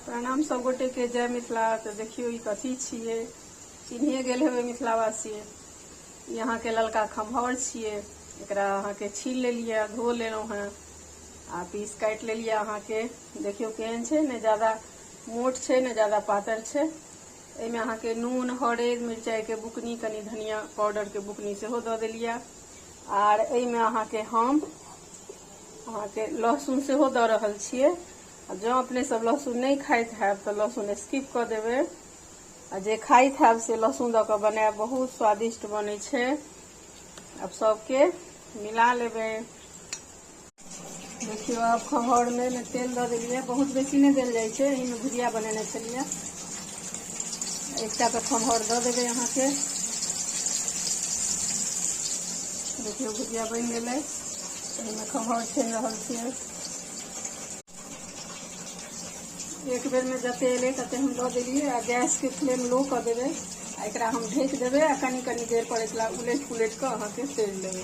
प्रणाम सब गोटे के जय मिथिला तो देखियो ई कथी छिए चिन्हिए गेल हेबै मिथिलावासी ई अहाँके ललका खम्हौर छिए एकरा अहाँके छील लेलिए धो लेलहुँ हेँ आ पीस काटि लेलिए अहाँके देखियो केहन छै ने ज्यादा मोट छै ने ज्यादा पातर छै एहिमे अहाँके नून हरदि मिरचाइके बुकनी कनि धनिया पाउडरके बुकनी सेहो दऽ देलिए आर एहिमे अहाँके हम अहाँके लहसुन सेहो दऽ रहल छियै आ जँ अपने सब लहसुन नहि खाइत हैब तऽ लहसुन स्किप कऽ देबै आ जे खाइत हैब से लहसुन दऽ कऽ बनायब बहुत स्वादिष्ट बनै छै आब सबके मिला लेबै देखियौ आब खहरमे तेल दऽ देलियै बहुत बेसी नहि देल जाइ छै एहिमे भुजिया बनेने छलियै एकटा के खमहर द देबे यहाँ के देखियो भुजिया बन गए एहिमे खमहर छानि रहल छियै एक बेर में जते एले तते हम दऽ देलियै आ गैस के फ्लेम लो कर देवे आ एक हम ढक देवे आ कनी कनी देर पर एक उलट पुलट के अहाँ के तेल देवे